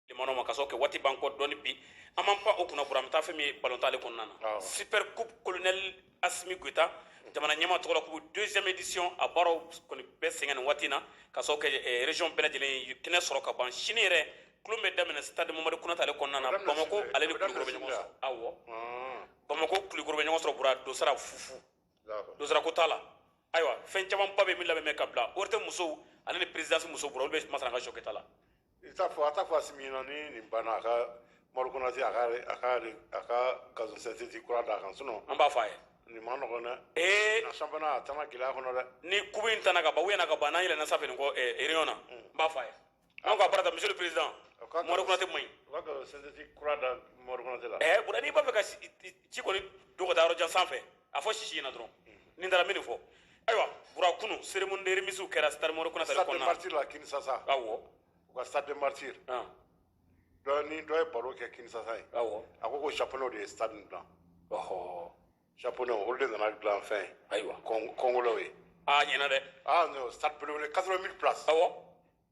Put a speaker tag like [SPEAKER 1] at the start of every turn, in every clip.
[SPEAKER 1] limanaw ma ka sababu kɛ waati b'an kɔ dɔɔni bi an b'an pan o kunna bura an bɛ taa fɛn min ye balontan ale kɔnɔna na Awɔ. super coupe colonel asimi goyita jamana ɲɛmaa tɔgɔ la ko deuxième édition a baaraw kɔni bɛɛ sɛgɛn nin waati in na ka sababu kɛ eh, région bɛɛ lajɛlen ye kɛnɛ sɔrɔ ka ban sini yɛrɛ tulon bɛ daminɛ stade mamadu konate ale kɔnɔna na A bɛ daminɛ bamako sini dɛ. ale ni A bɛ daminɛ kulukoro bɛ sini ɲɔgɔn dɛ. sɔrɔ awɔ Ɔn. bamako kulukoro bɛ ɲɔgɔn sɔrɔ bura dosara fufu D'accord. dosara ko t'a la ayiwa fɛn camanba bɛ min labɛn bɛ ka bila ORTM musow ale ni présidence musow bura olu bɛ masana ka sɔkɛta la I t'a fɔ a ta
[SPEAKER 2] fɔ a min na ni nin banna a ka mori kɔnɔ se a ka a ka a ka gasɛti kura d'a kan sun an b'a fɔ a ye nin
[SPEAKER 1] ma nɔgɔ dɛ
[SPEAKER 2] ee a sanfana a taama gɛlɛya kɔnɔ dɛ ni ku in ta ka bɔ
[SPEAKER 1] u ɲɛna ka ban n'a yɛlɛ na sa nin kɔ ereyɔn na n b'a fɔ a ye an ka barata misi perez mori kɔnɔtɛ ma ɲi sɛti
[SPEAKER 2] kura da mori kɔnɔtɛ la ɛ bɔn n'i b'a fɛ ka
[SPEAKER 1] ci kɔni don ka taa yɔrɔ jan sanfɛ a fɔ sisi ɲɛna dɔrɔn nin taara min fɔ ayiwa bura kunu cérémonie de remise kɛra stade mamadu konate kɔnɔna na martir la kinsasa
[SPEAKER 2] awɔ u ka
[SPEAKER 1] stade de
[SPEAKER 2] martir dɔ ni dɔ ye baro kɛ kinsasa ye awɔ a ko ko
[SPEAKER 1] japonɛw de
[SPEAKER 2] ye stade nin dilan ɔhɔ japonɛw olu de nana dilan fɛn ayiwa
[SPEAKER 1] kɔngolɛw ye
[SPEAKER 2] a ɲɛna dɛ
[SPEAKER 1] ah non stade
[SPEAKER 2] belebele 80 000 places awɔ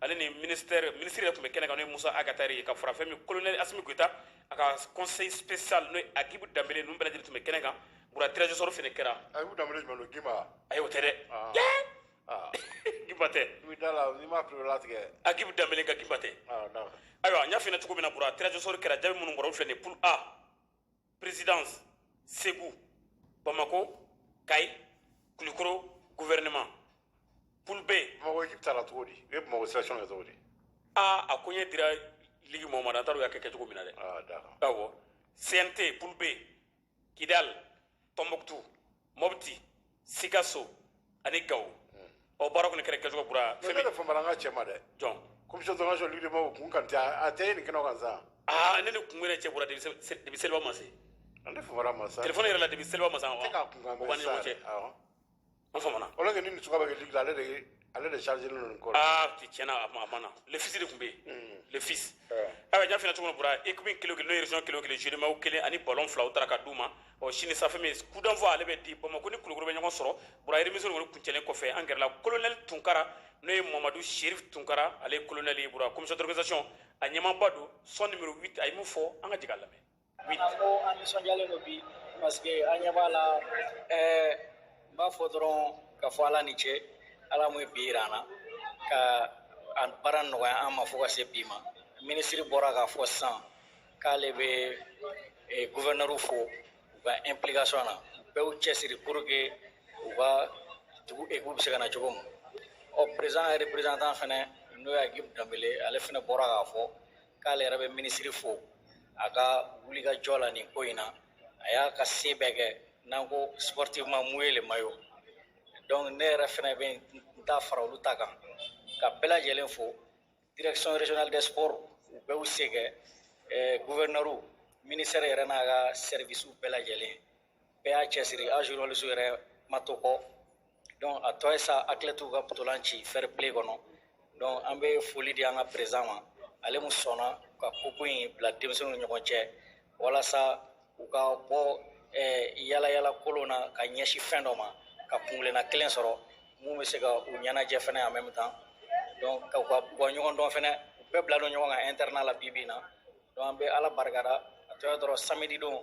[SPEAKER 1] ale ni ministère ministre de tun bɛ kɛnɛ kan n'o ye musa ag attaher ye ka fara fɛn min colonel asimi goyita a ka conseil spécial n'o ye agibu danbele ninnu bɛɛ lajɛlen tun bɛ kɛnɛ kan bura tirage au sort fana kɛra agibu danbele jumɛn don gimba
[SPEAKER 2] ayi o tɛ
[SPEAKER 1] dɛ ah. ah.
[SPEAKER 2] gimba tɛ agibu danbele ka gimba
[SPEAKER 1] tɛ ah, ayiwa n y'a f'i ɲɛna cogo min na bura tirage au sort kɛra jaabi minnu bɔra olu filɛ nin ye poule a présidence segu bamako kayi kulikoro gouvernement poule b bamako ekipi taara cogo di
[SPEAKER 2] e bamako sélection kɛ cogo di aa a ko
[SPEAKER 1] ɲɛ dira ligi mɔgɔ ma dɛ an t'a dɔn u y'a kɛ kɛcogo min na dɛ awɔ cnt poule b kidal tɔnbɔkutu mɔbiti sikaso ani gawo ɔ baara kɔni kɛra kɛcogo bura fɛn min fama an ka cɛ
[SPEAKER 2] ma dɛ jɔn commission
[SPEAKER 1] d'organisation ligi
[SPEAKER 2] de mɔgɔw kun kan tɛ a tɛ nin kɛnɛ kan sa aa ne ni kun yɛrɛ cɛ
[SPEAKER 1] bura depuis seliba ma se ne famana a
[SPEAKER 2] ma sa telefɔni yɛrɛ la depuis seliba ma sa
[SPEAKER 1] wa tɛ k'a kun kan bɛ sa o b'an ni ɲɔgɔn
[SPEAKER 2] cɛ
[SPEAKER 1] an famana alors que ni nin suka bɛ kɛ ligi
[SPEAKER 2] la ale de ye ale de chargé len don kɔrɔ ah ti tiɲɛna a ma a ma
[SPEAKER 1] na le fils de tun bɛ yen le fils ayiwa n y'a f'i ɲɛna cogo min bura équipe kelen o kelen n'o ye région kelen o kelen jeu de maillots kelen ani ballon fila u taara ka d'u ma ɔ sini sanfɛ min coup d'envoi ale bɛ di bamako ni kulukoro bɛ ɲɔgɔn sɔrɔ bura remise in kɔni kuncɛlen kɔfɛ an gɛrɛla colonel tunkara n'o ye mamadu sherif tunkara ale ye colonel ye bura commission d'organisation a ɲɛmaaba don son numéro 8 a ye min fɔ an ka jigin a lamɛn an ko an
[SPEAKER 3] nisɔndiyalen don bi parce que an ɲɛ b'a la ɛɛ n b'a fɔ dɔrɔn ka fɔ ala ni ce ala mun ye bi jira an na ka a baara nɔgɔya an ma fo ka se bi ma minisiri bɔra k'a fɔ sisan k'ale bɛ eh, guvɛrinɛriw fo u ka implication na u b'u cɛsiri pour que u ka dugu ekipu bɛ se ka na cogo min ɔ président représentant fɛnɛ n'o ye Agibu Danbele ale fana bɔra k'a fɔ k'ale yɛrɛ bɛ minisiri fo a ka wulikajɔ la nin ko in na a y'a ka se bɛɛ kɛ n'an ko sportivement mouiller le maillot donc ne yɛrɛ fɛnɛ bɛ n ta fara olu ta kan ka bɛɛ lajɛlen fo direction régionale des sports u bɛɛ y'u se kɛ gouverneur ministère yɛrɛ n'a ka service bɛɛ lajɛlen bɛɛ y'a cɛsiri a journalistew yɛrɛ ma to kɔ donc a tɔ ye sa athlètes ka ntolan ci fair play kɔnɔ donc an bɛ foli di an ka président ma ale mun sɔnna ka coupe in bila denmisɛnninw ni ɲɔgɔn cɛ walasa u ka bɔ eh, yala yala kolon na ka ɲɛsin fɛn dɔ ma ka kuntilenna kelen sɔrɔ mun bɛ se ka u ɲɛnajɛ fɛnɛ en même temps donc ka u ka bɔ ɲɔgɔn dɔn fɛnɛ u bɛɛ bila don ɲɔgɔn kan internat la bi bi in na donc an bɛ ala barikada a tɔ ye dɔrɔn samedi don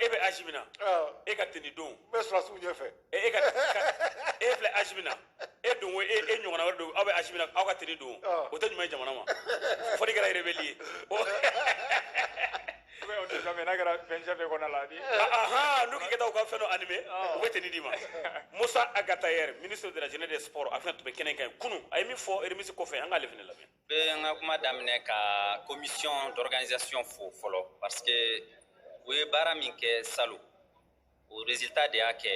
[SPEAKER 2] e bɛ âge min
[SPEAKER 1] na e ka teni don n bɛ sɔrɔsiw ɲɛfɛ
[SPEAKER 2] e ka
[SPEAKER 1] e filɛ âge min na e don ko e ɲɔgɔnna wɛrɛ don aw bɛ âge min na aw ka teni don o tɛ ɲuman ye jamana ma fo n'i kɛra rebelle ye
[SPEAKER 4] o tɛ fɛn n'a kɛra fɛn fɛn kɔnɔ la ni ahan n'u k'i ka
[SPEAKER 1] taa u ka fɛn dɔ animer u bɛ teni d'i ma Mossa Ag Attaher ministre de la jeunesse des sports a fɛnɛ tun bɛ kɛnɛ in kan kunu a ye min fɔ remise kɔfɛ an k'ale fɛnɛ lamɛn bɛ n ka
[SPEAKER 5] kuma daminɛ ka commission d'organisation fo fɔlɔ parce que u ye baara min kɛ salon o résultat de y'a kɛ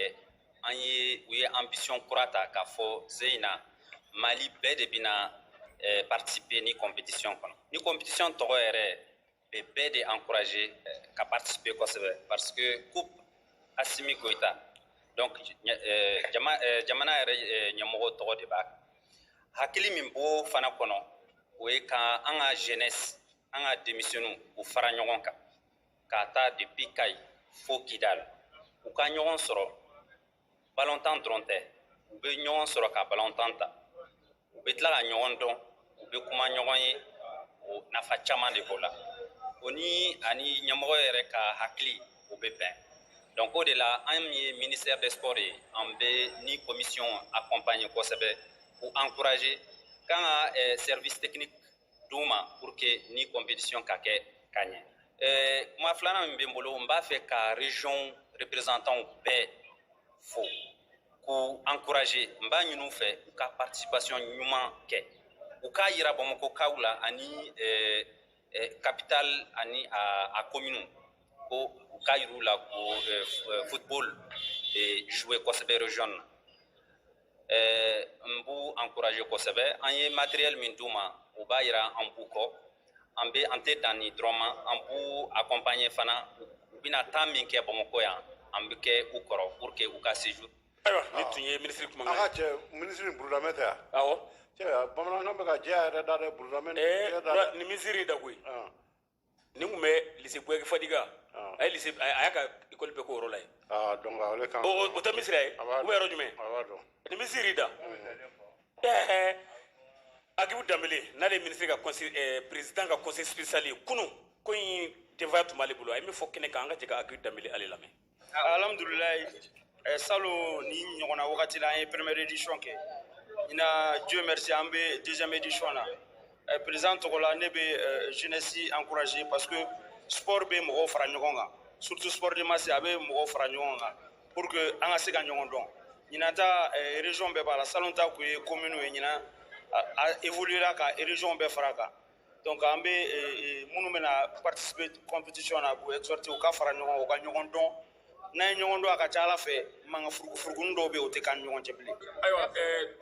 [SPEAKER 5] an ye u ye ambition kura ta k'a fɔ ɲinan Mali bɛɛ de bɛna eh, participer ni compétition kɔnɔ ni compétition tɔgɔ yɛrɛ bɛ bɛɛ de encourager eh, ka participer kosɛbɛ parce que coupe Assimi Goïta donc eh, jama eh, jamana yɛrɛ ɲɛmɔgɔ tɔgɔ de b'a kan hakili min b'o fana kɔnɔ o ye ka an ka jeunesse an ka denmisɛnninw u fara ɲɔgɔn kan k'a ta depuis Kayi fo Kidal u ka ɲɔgɔn sɔrɔ balontan dɔrɔn tɛ u bɛ ɲɔgɔn sɔrɔ ka balontan ta u bɛ tila ka ɲɔgɔn dɔn u bɛ kuma ɲɔgɔn ye o nafa caman de b'o la o ni ani ɲɛmɔgɔ yɛrɛ ka hakili o bɛ bɛn donc o de la an ye ministère des sports ye an bɛ ni commission accompagner kosɛbɛ k'u encourager k'an ka eh, service technique d'u ma pour que ni compétition ka kɛ ka ɲɛ eh, kuma filanan min bɛ n bolo n b'a fɛ ka région représentants bɛɛ fo k'u encourager n b'a ɲin'u fɛ u ka participation ɲuman kɛ u k'a yira bamakɔkaw la ani eh, eh, capital ani a, a commune ko u k'a yir'u la ko football jouer kosɛbɛ région na eh, n b'u encourage kosɛbɛ an ye matériel min d'u ma u b'a yira an b'u kɔ an be an tɛ dan nin dɔrɔn ma an b'u accompagner fana u bɛna taa min kɛ bamakɔ yan an bɛ kɛ u kɔrɔ pour que u ka séjour ayiwa nin tun
[SPEAKER 1] ye minisiri kuma an ka cɛ
[SPEAKER 2] minisiri burudamɛ tɛ yan awɔ cɛ
[SPEAKER 1] bamanankan
[SPEAKER 2] bɛ ka jɛya yɛrɛ da dɛ burudamɛ ni minisiri
[SPEAKER 1] da koyi nin tun bɛ lise buyagi fadiga a ye lise a y'a ka ekɔli bɛɛ k'o yɔrɔ la yen ah,
[SPEAKER 2] o tɛ misira ye
[SPEAKER 1] o bɛ yɔrɔ jumɛn ni misiri
[SPEAKER 2] da
[SPEAKER 1] ɛɛ agibu danbele n'ale ye minisiri ka kɔnse eh, peresidan ka kɔnseye sipesiyali ye kunun ko in denfaya tun b'ale bolo a ye min fɔ kɛnɛ kan an ka jɛ ka agibu danbele ale lamɛn
[SPEAKER 6] alhamdulilayi eh, salon nin ɲɔgɔnna wagati la an ye première édition kɛ ɲinan dieu merci an bɛ deuxième édition na eh, président tɔgɔ la ne bɛ eh, jeunesse encourager parce que sport bɛ mɔgɔw fara ɲɔgɔn kan surtout sport de masse a bɛ mɔgɔw fara ɲɔgɔn kan pour que an ka se ka ɲɔgɔn dɔn ɲinan ta eh, région bɛɛ b'a la salon ta kun ye commune ye ɲinan a évoluela ka région bɛɛ fara kan Donc an bɛ minnu bɛna participer compétition na n b'u exhorter u ka fara ɲɔgɔn kan u ka ɲɔgɔn dɔn n'an ye ɲɔgɔn dɔn a ka ca a la fɛn mankan furugufurugunin dɔw bɛ yen o tɛ k'an ni ɲɔgɔn cɛ bilen. Ayiwa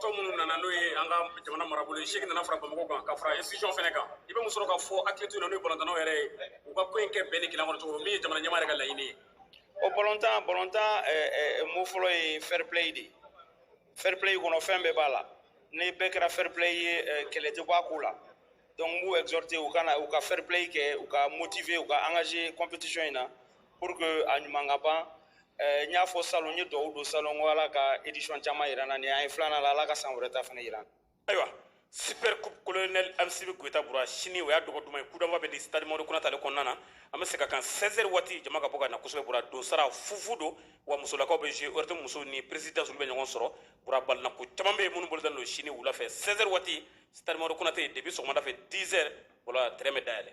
[SPEAKER 1] tɔn minnu nana n'o ye an ka jamana marabolo ye seegin nana fara Bamakɔ kan ka fara institution fana kan i bɛ mun sɔrɔ ka fɔ athlètes ɲɛna n'o ye balontannaw yɛrɛ ye u ka ko in kɛ bɛn ni kelenya kɔnɔ cogo min min ye jamana ɲɛmaa yɛrɛ ka laɲini ye. O balontan
[SPEAKER 6] balontan mot fɔlɔ ye fair play de ye. fair play kɔnɔ fɛn bɛɛ b'a la ni bɛɛ kɛra fair play ye eh, kɛlɛ tɛ bɔ a ko la donc n b'u exhorter u ka na u ka fair play kɛ u ka motiver u ka engager compétition in na pour que a ɲuman ka ban eh, n y'a fɔ salon n ye dugawu don salon ko ala ka édition caman yira an na nin an ye filanan la ala ka san wɛrɛ ta fana yira an na ayiwa
[SPEAKER 1] super coupe colonel asimi goyita bura sini o y'a donba duman ye coup d'envoi bɛ di stade mamadu kunate ale kɔnɔna na an bɛ se ka kan 16 heures waati jama ka bɔ ka na kosɛbɛ bura donsara fufu don wa musolakaw bɛ jouer ORTM musow ni présidence olu bɛ ɲɔgɔn sɔrɔ bura balinako caman bɛ yen minnu bolo dalen don sini wula fɛ 16 heures waati stade mamadu kunate depuis sɔgɔmada fɛ 10 heures wala terrain bɛ dayɛlɛ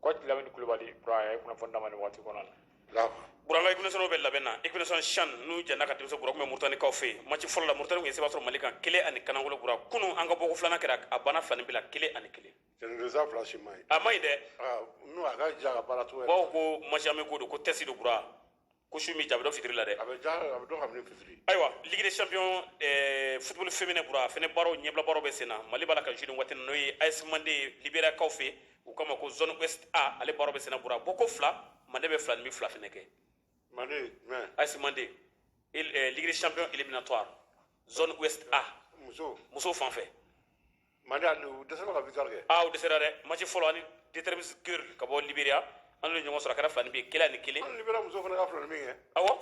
[SPEAKER 4] Ko lamini kulubali bura a ye kunnafoni d'an ma nin waati kɔnɔ la bura
[SPEAKER 2] an ka équipe
[SPEAKER 1] nationale bɛ labɛn na équipe nationale CHAN nuhun jane ka denmisɛnw bura kun bɛ murutanikaw fɛ yen match fɔlɔ la murutani kun ye seba sɔrɔ mali kan kelen ani kanankolo bura kunun an ka bɔko filanan kɛra a banna filaninbin la kelen ani kelen résultat
[SPEAKER 2] fila si ma ɲi a ma ɲi dɛ
[SPEAKER 1] nuhun a ka
[SPEAKER 2] jɛ a ka baara cogo bawo ko match amical
[SPEAKER 1] don ko tɛsi don bura ko su min diya a bɛ dɔn fitiri la dɛ a bɛ diya a bɛ dɔn kabini
[SPEAKER 2] fitiri ayiwa ligue
[SPEAKER 1] des champions eh, football féminin bura fɛnɛ baaraw ɲɛbila baaraw bɛ sen na mali b'a la ka jouer nin waati n'o ye as mande libéria kaw fɛ u kama ko zone ouest a ale baaraw bɛ sen na bura bɔko fila mande bɛ filaninbin fila fɛnɛ kɛ mande
[SPEAKER 2] jumɛn as mande
[SPEAKER 1] eh, ligue des champions éliminatoire zone ouest a muso muso fan fɛ mande ali u dɛsɛra ka
[SPEAKER 2] victoire kɛ
[SPEAKER 1] aa u dɛsɛra
[SPEAKER 2] dɛ
[SPEAKER 1] match fɔlɔ ani
[SPEAKER 2] determine
[SPEAKER 1] girls ka bɔ liberia an n'u ye ɲɔgɔn sɔrɔ a kɛra filaninbin ye kelen ani kelen hali liberia muso fana ka filaninbin
[SPEAKER 2] kɛ awɔ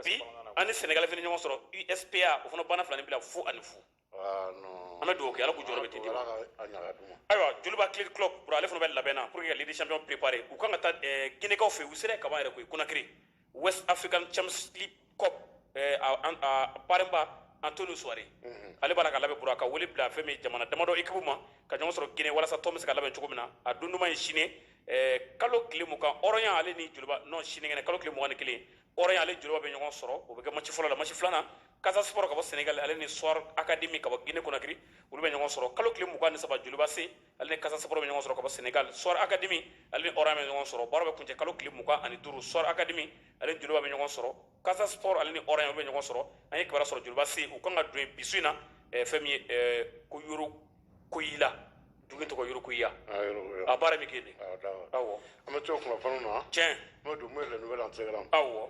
[SPEAKER 1] bi an ni senegal fana ɲɔgɔn sɔrɔ uspa o fana banna filaninbin na fu ani fu Ah, non. an bɛ dugawu kɛ ala k'u jɔyɔrɔ bɛ tete Ala ka- a ɲaga d'u ma. ayiwa joliba athlétic club bura ale fana bɛ labɛn na pour que ka ligue des champions préparer u kan ka taa eh, guinekaw fɛ yen u sera yen kaban yɛrɛ koyi konakiri west african champions league cup eh, a, a, a parrainba antonio souaré mm -hmm. ale b'a la ka labɛn bura ka wele bila fɛn min jamana damadɔ ekipu ma ka ɲɔgɔn sɔrɔ guinee walasa tɔn bɛ se ka labɛn cogo min na a don duman ye sini eh, kalo tile mugan horoya ale ni joliba non sinikɛnɛ kalo tile mugan ni kelen horoya ale ni joliba bɛ ɲɔgɔn sɔrɔ o bɛ kɛ maci fɔlɔ la maci filanan casa sport ka bɔ senegal ale ni soar academy ka bɔ guinee conakry olu bɛ ɲɔgɔn sɔrɔ kalo tile mugan ni saba joliba ac ale ni casa sport bɛ ɲɔgɔn sɔrɔ ka bɔ senegal soar academy ale ni horoya bɛ ɲɔgɔn sɔrɔ baara bɛ kuncɛ kalo tile mugan ani duuru soar academy ale ni joliba bɛ ɲɔgɔn sɔrɔ casa sport ale ni horoya bɛ ɲɔgɔn sɔrɔ an ye kibaruya sɔrɔ joliba ac u kan ka don bi su in na eh, fɛn min ye eh, ko yorokoyila dugu tɔgɔ yorokoguia a baara bɛ kɛ de awɔ an bɛ to kunnafoniw
[SPEAKER 2] na tiɲɛ n'o don mun ye
[SPEAKER 1] les
[SPEAKER 2] nouvelles en télégramme awɔ